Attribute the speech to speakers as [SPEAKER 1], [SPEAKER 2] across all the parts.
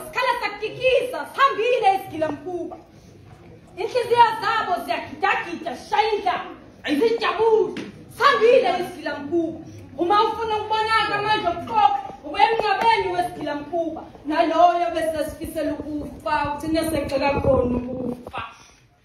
[SPEAKER 1] Sikhala sakikiza, sihambile isigilamkhuba. Inhliziyo zabo ziyagidagida, shaya indlala. Zijabule, sihambile isigilamkhuba. Uma ufuna ukubonaka amandla okuqoqa, ubuya emngcwabeni wesigilamkhuba. Naloyo bese sifisela ukufa, uthina segxeka khona ukufa.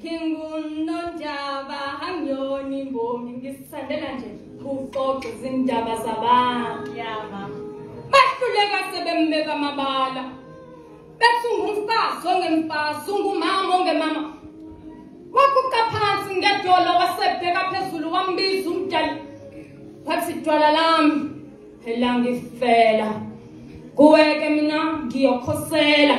[SPEAKER 1] ngingunonjaba angiyona imbongi ngisithandela nje kuxoxa izindaba zabantu yama bahluleka sebembeka amabala bethi ungumfazi ongemfazi ungumama ongemama waguqa phansi ngedola wasebheka phezulu wambiza umdala wathi dwala lami phela ngifela kuweke mina ngiyokhosela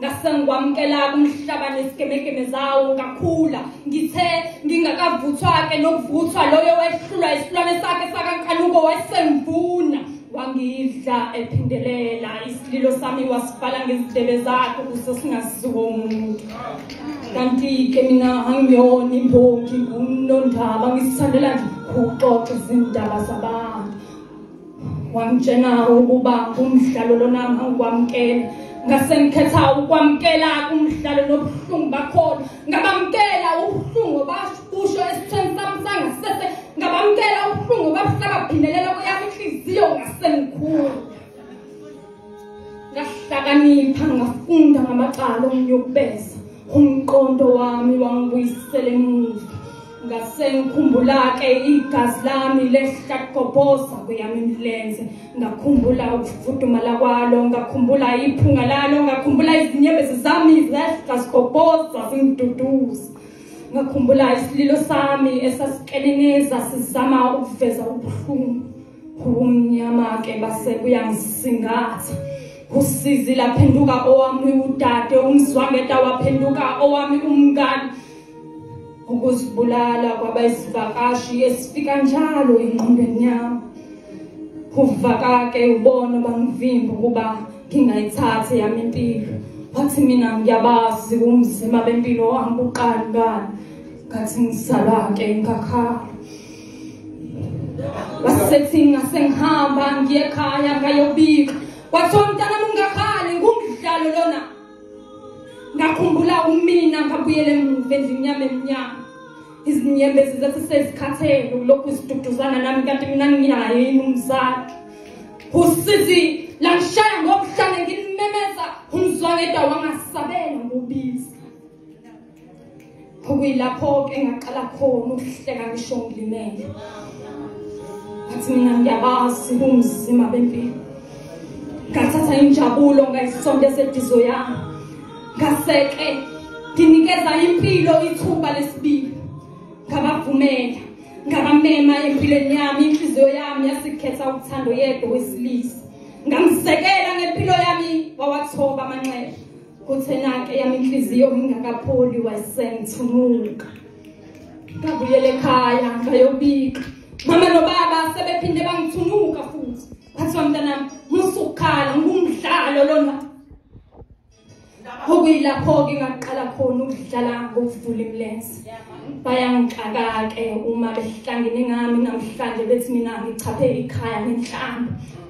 [SPEAKER 1] ngasengikwamukela kumhlaba nesigemegeme zawo ngakhula ngithe ngingakavuthwa-ke nokuvuthwa loyo wehlulwa isilwane sakhe sakankanuko wasemvuna wangidla ephindelela isililo sami wasibhala ngezidebe zakhe ukuze singaziwo umuntu kanti-ke mina angiyona imbongi ngunondaba ngisithandela nje ukuxoxa izindaba zabantu wangitshena ukuba umdlalo lona angikwamukela ngase ngikhetha ukwamukela umdlalo nobuhlungu bakhona ngabamukela ubuhlungu basho esithweni sami sangasese ngabamukela ubuhlungu babuhlaba bhindelela kweyami inhliziyo ngase ngikhulu ngahlakanipha ngafunda ngamacala omnyukubeza umqondo wami wangibuyisela emuva ngasengikhumbula-ke igazi lami lehlaqobhoza kweyami imilenze ngakhumbula ukufudumala kwalo ngakhumbula iphunga lalo ngakhumbula izinyembezi zami zehlaqobhoza zingiduduza ngakhumbula isililo sami esasikeneneza sizama ukuveza ubuhlungu kumnyama ke base kuyangisingatha usizi laphenduka owami udade umzwangeta waphenduka owami umngani ukuzibulala kwabayisivakashi esifika njalo engqondweni yami uvakake ubona bangivimba ukuba ngingayithathi yami impilo wathi mina ngiyabazi umzima bempilo wami uqani ngani ngathi ngizalwa-ke ngakhala wasethinga sengihamba ngiye ekhaya ngayobika kwathiwa mntana mungakhali ngumdlalo lona ngakhumbula umina ngabuyele emuva endlini yami emnyama izinyembezi zathi sezikhathele ulokhu ziduduzana nami kanti mina nginaye yini umzali usizi langishaya ngobuhlale ngimemeza umzwangeda wangasabela ngobizi okuyilapho-ke engaqala khona ukuhleka ngisho ngilimele ngathi mina ngiyabazi kumzima bempilo ngathatha injabulo ngayisonto esedizo yami ngaseke nginikeza impilo ithuba lesibili ngabavumela ngabamema empilweni yami inhliziyo yami yasikhetha uthando yedwa wesilisa ngamsekela ngempilo yami wawathoba amanxeba kuthenake yami inhliziyo ngingakapholi wayisengithumuka ngabuyela ekhaya ngayobika mama nobaba sebephinde bangithunuka futhi kwathiwa mntanami musukukhala ngumdlalo lona okuyilapho-ke ngaqala khona ukudlala ngokuvula imilenze bayangixaka-ke uma behlangene ngami namhlanje bethi mina ngichaphe ikhaya ngenhlamba